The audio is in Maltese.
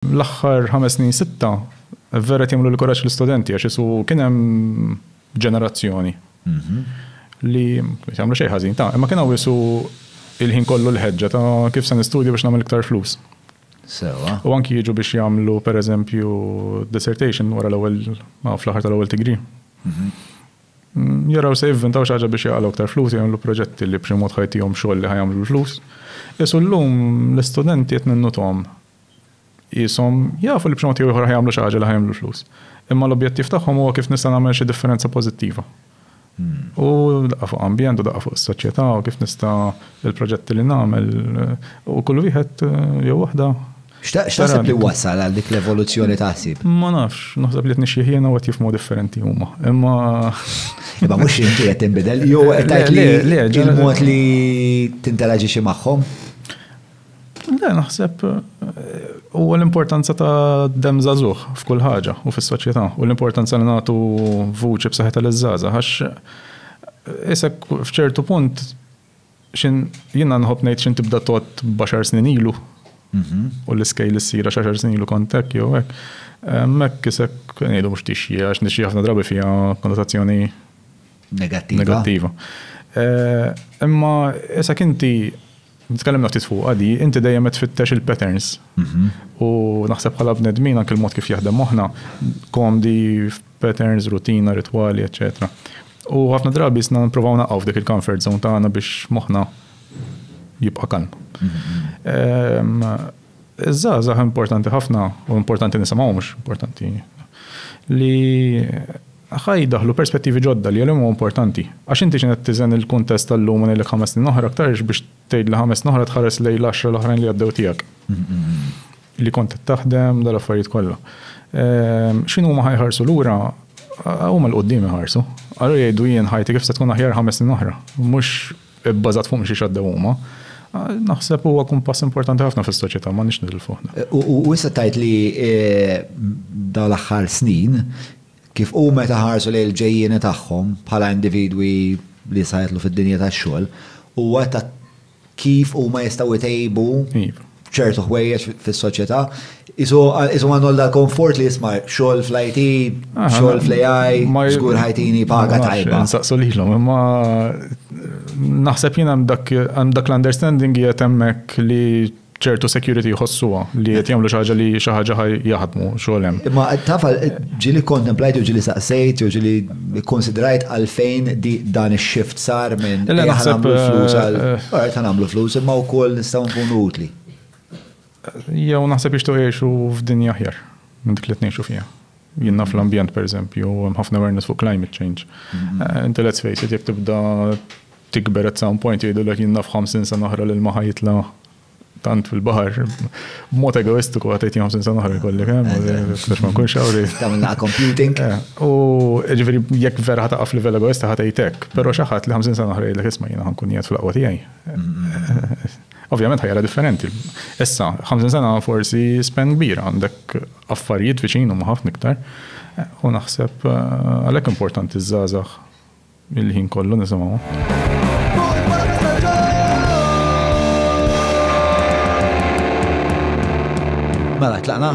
L-aħħar ħames snin sitta vera qed jagħmlu l-kuraġġ l-istudenti għax isu kien hemm ġenerazzjoni mhm. li jagħmlu xejn ħażin ta' imma kien hawn isu il-ħin kollu l-ħeġġa ta' kif se nistudju biex nagħmel iktar flus. Sewa. U anki jiġu biex jagħmlu pereżempju dissertation wara l-ewwel fl-aħħar tal-ewwel degree. Mhm. Mm, jaraw se jivvintaw xi ħaġa biex jaqalgħu aktar flus jagħmlu proġetti li b'xi mod ħajtihom xogħol li ħajamlu l-flus. Isu llum l-istudenti qed minnuthom Qishom jafu li b'xi mod jew ieħor ħa jagħmlu xi ħaġa li ħa jagħmlu l-flus. Imma l-objettiv tagħhom huwa kif nista' nagħmel xi differenza pożittiva. U daqqa fuq ambjent u daqqa fuq is-soċjetà u kif nista' il-proġetti li nagħmel u kull wieħed jew waħda. X'taħseb li wassal għal dik l-evoluzzjoni ta' ħsieb? Ma nafx, naħseb li qed nixjieħ jien u qed jifhmu differenti huma. Imma Imma mhux inti qed tinbidel jew qed tgħid li il-mod li tinteraġixxi magħhom? Le, naħseb u l-importanza ta' dem zazuħ f'kull ħaġa u fis-soċjetà u l-importanza li nagħtu vuċi b'saħħitha l żaza għax eh, isek f'ċertu punt xin jiena nħobb ngħid xin tibda tot baxar snin ilu mhm. u l-iskejl issira xaxar snin ilu kontek jew hekk. Eh, Mek isek ngħidu mhux tixji għax nixji ħafna drabi fiha konnotazzjoni negattiva. Eh, imma isek inti Tkellimna ftit fuqha di, inti dejjem qed tfittex il-patterns. U naħseb bħala bnedmin anke l-mod kif jaħdem moħħna, komdi f'patterns, rutina, ritwali, eċċetera. U ħafna drabi sna nipprovaw naqgħu f'dik il-comfort zone tagħna biex moħħna jibqa' kalm. Ehm, Iż-żgħażagħ importanti ħafna u importanti nisimgħu mhux importanti li Ħa jiddaħħlu perspettivi ġodda li għalihom huwa importanti. Għax inti x'inhi qed tiżen il-kuntest tal-lum u ngħidlek ħames snin oħra aktarx biex tgħidli ħames snin oħra tħares lejn l-għaxra l-oħrajn li għaddew tiegħek. Li kont qed taħdem, dal-affarijiet kollha. X'inhu huma ħa jħarsu lura, huma l-quddiem iħarsu. Allura jgħidu jien ħajti kif se tkun aħjar ħames snin oħra. Mhux ibbażat fuq xi xaddew huma. Naħseb huwa kumpass importanti ħafna fis-soċjetà ma nix nidil fuq. U issa tajt li dal-aħħar snin Kif hu meta ħarsu lejn il-ġejjieni tagħhom bħala individwi li issa jidħlu fid-dinja tax-xogħol, hu għedt ta' kif huma jistgħu jtejbu ċertu ħwejjeġ fis-soċjetà. Qisu għandu għal dal-konfort li jisma' xogħol fl-IT, xogħol fl-AI, żgur ħajtini paga tajba. Nsaqsu lilhom, imma naħseb jien hemm dak l-understanding qiegħed hemmhekk li ċertu security jħossuha li qed jagħmlu xi ħaġa li xi ħaġa ħaj jaħdmu xogħol hemm. Imma tafa ġieli kontemplajt u ġieli saqsejt u ġieli konsidrajt għalfejn dan ix-shift sar minn li naħseb flus għal eh, eh. ta' nagħmlu flus imma wkoll nistgħu nkunu utli. Jew naħseb jixtu jgħixu f'dinja aħjar minn dik li tnejxu fiha. Jien naf l-ambjent pereżempju, hemm ħafna awareness fuq climate change. Eh, inti let's face it, jekk tibda tikber at some point jgħidulek jien naf 50 sena oħra lil ma ħajitla tant fil-bahar, mod egoistiku għatajt jom sinsan uħra kolli, kem, ftax ma kun xawri. Tamna computing. Eh, u ġveri, jek vera ħata għaf level egoista ħatajtek, pero xaħat li 50 sena uħra jgħidlek isma jina ħankun jgħat fl-aqwa tijaj. Ovvjament ħajra differenti. Issa, 50 sena forsi spen kbira għandek Affarijiet viċin huma ħafna iktar u naħseb għalhekk importanti ż-żgħażagħ il-ħin kollu nisimgħuhom. Mela, tlaqna?